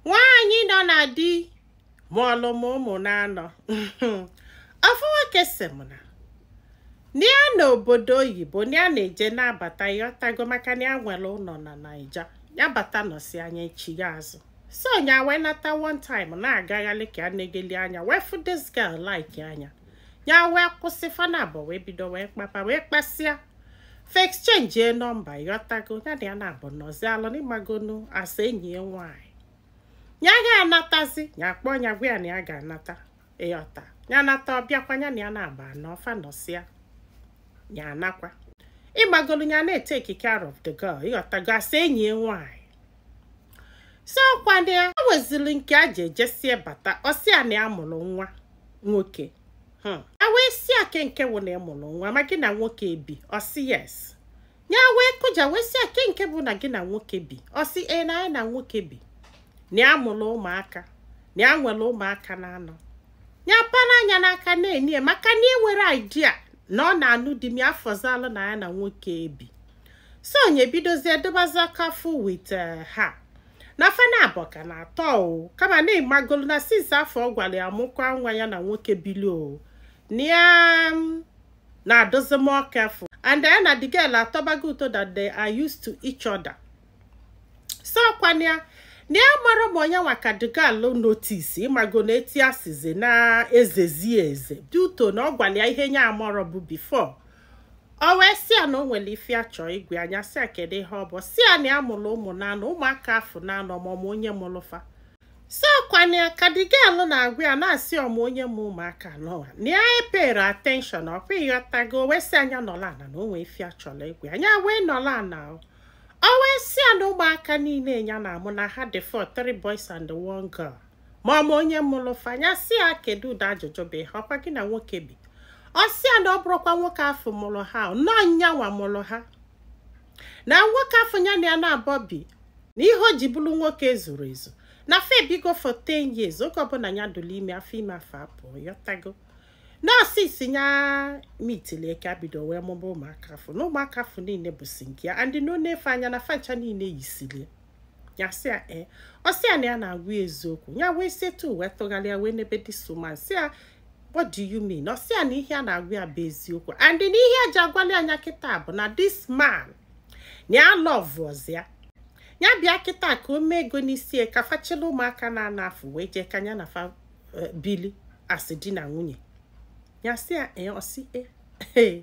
nwaanyị nọ na di mụọlụ m ụmụ n'anọ ofu nwoke si m na ya nọ obodo oyibo ya na-eje na-abata ịghọtago maka na ya nwere ụnọ na naija ya bata nọsịa nya echigha azụ so nya wee nata one time na-agagharị ka a na-egeli anya wee fụ this girl like anya ya wee kwụsị fa naabọ wee bido wee kpaba wee kpasịa fa exchange nọmba ịghọtago ya na ya naabọ nọzịalụ n'ịmagonu as enyi ya nwaanyị ya ga-anatazi ya akpọ ya gwa ya na ya ga-anata ịghọta ya nata ọ bịakwa ya na ya naabọ anọ fa nọsịa ya anakwa ịmagonu ya na-etake care of the girl ịghọtago as enyi ya nwaanyị so ọkwa na ya weziri nke a ji ejesie bata ọ sị ya na ya mụrụ nwa nwoke hmm. a wee sị ya kee nke bụ na ị mụrụ nwa ma gị na nwoke bi ọ sị yes ya wee kụja wee sị ya kee nke bụ na gị na nwoke bi ọ sị ya na nya na nwoke bi na ya mụrụ ụmụaka na ya nwere ụmụaka na anọ ya para anya n'aka na-enye maka na enwerọ idea na ọ na-anụ di ma ya fọzịalụ na ya na nwoke ebi so nya ebidozie dịbazi careful with eh, ha na fa naabọ ka na-atọ o kama na ịmagonu na since afụ ọ gwara ya mụkwa nwa ya na nwoke bili o na ya mm, na-adịzi more careful and ya na the girl atọbago ụtọ that they are used to each other so ọkwa nya na ya amarọ ma ọ nya nwa ka the girl notice ịmago na etu e sizi na-ezezi eze due to na ọ gwara ya ihe nya amarọ bụ before o wee sị ya na o nwere ife a chọọ ịgwa ya nya asị ya kedu ihe ọ bụ sị ya na ya mụrụ ụmụ n'anọ ụmụaka afụ n'anọ ma ọ ma onye mụrụ fa so ọkwa nya ka the girl na-agwa ya na-asị ọ ma onye mụ ụmụaka anọwa na ya epayrọ attention ọkwa ịghọtago o wee sị ya nya nọlụ ana na o nwee ife a chọrọ ịgwa ya nya wee nọlụ ana o o wee sị ya na ụmụaka niile ya na-amụ na ha dị four three boys and one girl ma ọ ma onye mụrụ fa nya asị ya kedu ụdị ajụjụ bụ ihe a ọkwa gị na nwoke bi ọ sị ya na ọ bụrọkwa nwoke afụ mụrụ ha na ọ nya nwa mụrụ ha na nwoke afụ ya na ya naabọ bi na ihe o ji bụrụ nwoke ezurọ ezu na fa ebigo for 10 years oge ọbụla ya dụrụ ime afọ ime afụ apụ ịghọtago na ọ since ya meetili ya ka ya bido wee mụba ụmụaka afụ na ụmụaka afụ niile bụsi nke ya and na o nee fa anya na fa ncha niile yisili ya ya sị ya ee ọ sị ya na ya na-agwa ya eziokwu ya wee setu wee tụgharịa wee nebe this woman sị ya what do you mean ọ sị ya na ihe a na-agwa ya bụ eziokwu and na ihe e ji agwali ya nya kịta bụ na this man na ya alọvụọzị ya ya bịa kịta ka o mee ego n'isi ya ka fa chịlị ụmụaka n'anọ afụ wee jee ka ya na fa eh, bili as di na nwunye ya sị ya ee ọ sị ee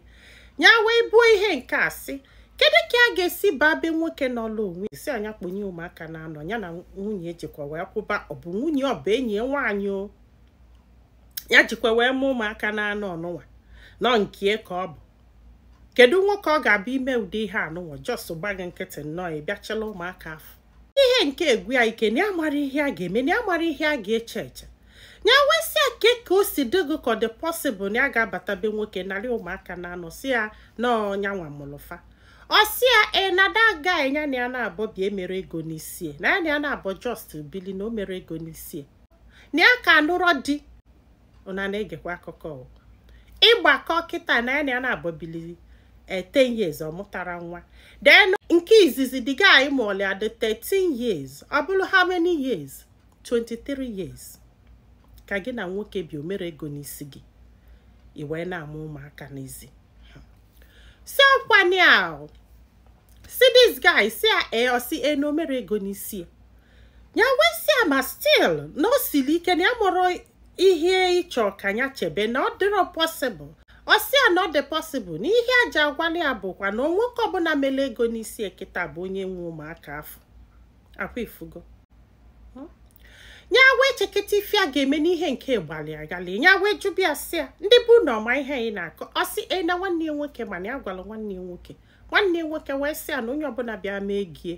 ya wee buo ihe nke a sị kedu ka a ga-esi baa be nwoke nọọlụ onwe sị a nya kpọnye ụmụaka na-anọ ya na nwunye ejikwa wee kwụba ọ bụ nwunye ọ bụ enyi ya nwaanyị o ya jikwa wee mụ ụmụaka na-anọ ọnụnwa nọ nke ka ọ bụ kedu nwoke ọ ga-abụ ime ụdị ihe anụnwa just gba gị nkịtị nnọọ ị bịa chịlị ụmụaka afụ ihe nke a gwụ ya ike na ya amarọ ihe a ga-eme na ya amarọ ihe a ga-eche eche nya wee sị a ke ka o si dị gị ka ọ dị possible na ya ga-abata be nwoke narị ụmụaka na anọ sị ya na ọ nya nwa mụlụ fa ọ sị ya e na the guy nya na ya na-abọ bi emerọ ego n'isi ya na ya na ya na-abọ just bili na o merọ ego n'isi ya na ya akanụrọ di ụnụ na-egekwa akụkọ ị gbakọọ kịta na ya na-abọ bili 10 eh, years ọ mụtarọ nwa then nke izizi the guy mụọlụ ya dị 13 years ọ bụrụ how many years 23 years ka gị na nwoke bi o merọ ego n'isi gị i wee na-amụ ụmụaka n'ezi si ọkwanye ahụ si this guy sị a eh, ọ sị e eh, na o merọ ego n'isi ya ya wee sị a ma still na o siri ike na ya amarọ ihe ị chọ ka ya chebe na ọ dịrọ possible ọ sị ya na ọ dị possible na ihe e ji agwalị ya bụkwa na ọ nwoke ọbụla mere ego n'isi ya kịta bụ onye nwe ụmụaka afụ ọkwa ị fụgo ya wee cheketa ife a ga-eme na ihe nke gbalụ ya ghalị ya wee jụba ya sị ya ndị be ụnụ ọ ma ihe anyị na-akọ ọ sị e na nwanne ya nwoke ma na ya gwara nwanne ya nwoke nwanne nwoke wee sị ya na onye ọbụla bịa mee ego ya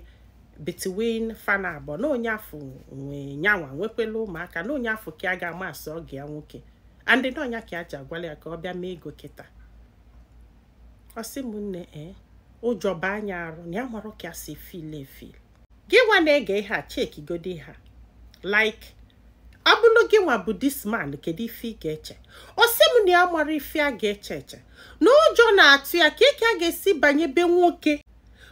between fa naabọ na onye afụ nwe nya nwa nwekwela ụmụaka na onye afụ ka a ga-ama as ọgọ ya nwoke and na ọ nya ka e ji agwalị ya ka ọ bịa mee ego kịta ọ sị m nne ee eh, ụjọ baa nya arụ na ya amarọ ka ya si feel efeel gị nwa na-ege ihe a chekigodi ya like ọ bụrụ gị nwa bụ this man kedu ife ị ga-eche ọ sị m na ya amarọ ife a ga-eche eche na ụjọ na-atụ ya kee ka a ga-esi banye be nwoke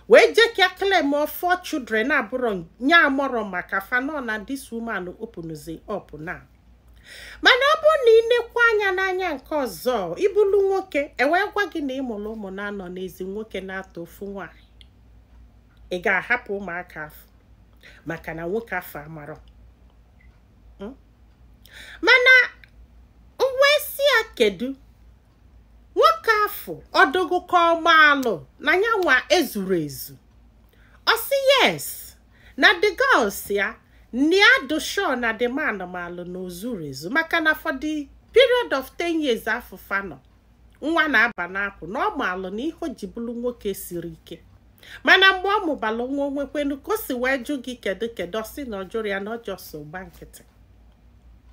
wee jee ka claimuo 4 children abụrụ nya amarọ maka fa nọ na this woman openụzi up now mana ọ bụrụ na ị nekwa anya n'anya nke ọzọ ị bụlụ nwoke e wee gwa gị na ị mụrụ ụmụ na-anọ n'ezi nwoke na-atọ ofu nwaanyị ị ga-ahapụ ụmụaka afụ maka na nwoke afụ amarọ hmm? mana m wee sị ya kedu nwoke afụ ọ dị gị ka ọ maalụ na ya nwa ezurọ ezu ọ sị yes na the girl sị ya na ọ dị sure na the man malụ na o zurọ ezu maka na for the period of 10 years afụ fa nọ nwa na-aba n'akwụ na ọ maalụ na ihe o ji bụrụ nwoke siri ike mana mgbe ọ mụbara nwa o nwekwenụ ka o si wee jụ gị kedu kedu ọ sị na ọ jụrọ ya na ọ just gba nkịtị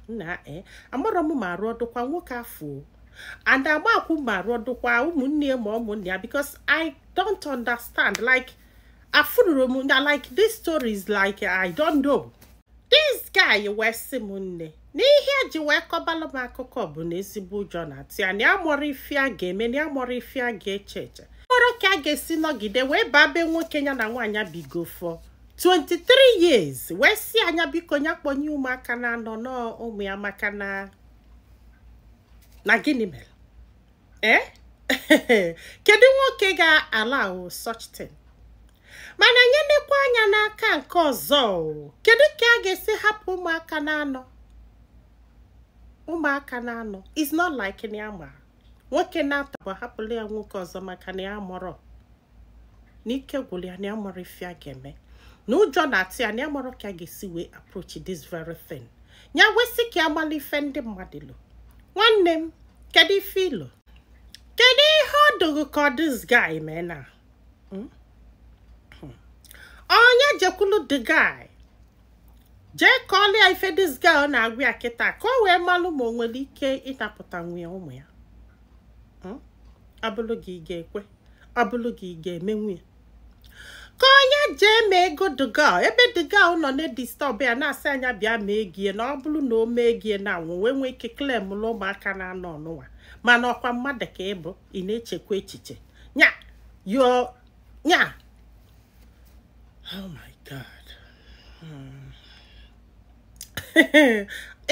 nna e amarọ m ma arụ ọ dụkwa nwoke afụ and agbakwụ ma arụ ọ dụkwa ụmụnne ma ụmụnne ya because i don't understand like afụrụ m na like this story is like i don't know this guy wee sị m nne n'ihe e ji wee kọbalụ m akụkọ bụ na ezigbo ụjọ na-atụ ya na ya amarọ ife a ga-eme na ya amarọ ife a ga-eche eche amarọ ka a ga-esi nọgide wee baa be nwoke ya na nwaanyị bigo for 23 years wee sị ya nya biko nya kpọnye ụmụaka na anọ na ọ ụmụ ya maka na na gịnị mere eh kedu nwoke ga-allow such thing mana nye nekwa anya n'aka nke ọzọ kedu ka a ga-esi hapụ ụmụaka na-anọ ụmụaka na-anọ is not like na ya ma nwoke na-atọbọ hapụla ya nwoke ọzọ maka na ya amarọ na ike gwụrụ ya na ya amarọ ife a ga-eme na ụjọ na-atụ ya na ya amarọ ka a ga-esi wee approach this very thing ya wee sị ka ya mara ife ndị mmadụ lo nwanne m kedu ife i lo kedu ihe ọ dụ gị ka this guy mee na Hmm? Hmm. ọ nya jekwulu the guy jee kọọlụ ya ife this guy ọ na-agwa ya kịta ka o wee malụ ma o nwere ike ịnapụtanwu ya ụmụ ya Hmm? a bụrụ gị ị ga-ekwe ọ bụrụ gị ị ga-emenwu ya ka ọ nya jee mee ego the girl ebe the girl nọ na-edisturb ya na-asị ya nya bịa mee ego ya na ọ bụrụ na o mee ego ya na anwụ wee nwee ike claim ụmụaka na-anọ nụnwa mana ọ kwa mmadụ ka ị bụ ị na-echekwa echiche nya yo nya oh my god Hmm.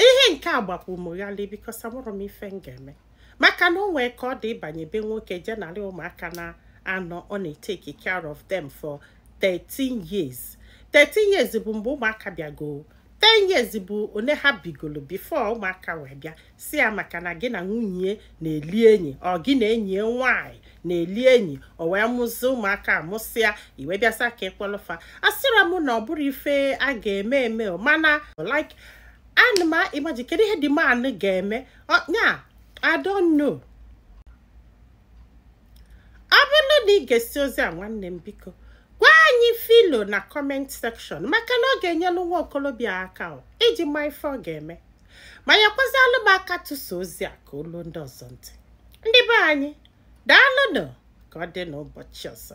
ihe nke a gbakwụ m ghalị because amarọ m ife m ga-eme maka na o nwe ka ọ dị ịbanye be nwoke jee nalụ ụmụaka na anọ ọ na-etake care of them for 13 years 13 years bụ mgbe ụmụaka bịago 10 years bụ one ha bigolo before ụmụaka wee bịa sị ya maka na gị na nwunye na-eli enyi or gị na enyi nwanyị na-eli enyi o wee mụzi ụmụaka a mụsịa i wee bịa sị ya ka ị kpọlụ fa asịrọ m na ọ bụrọ ife a ga-eme eme mana like ana m imagine kedu ihe the man ga-eme nya I don't know. ọ bụrụ na ị gesịa ozi a nwanne m biko gwa anyị ife i lo na comment section maka na ọ ga-enyelu nwa okolobịa aka iji ma ife ọ ga-eme ma nyekwazialụ m aka tụsa ozi a ka o lue ndị ọzọ ntị ndị be anyị daalụnụ ka ọ dị n'ụbọchị ọzọ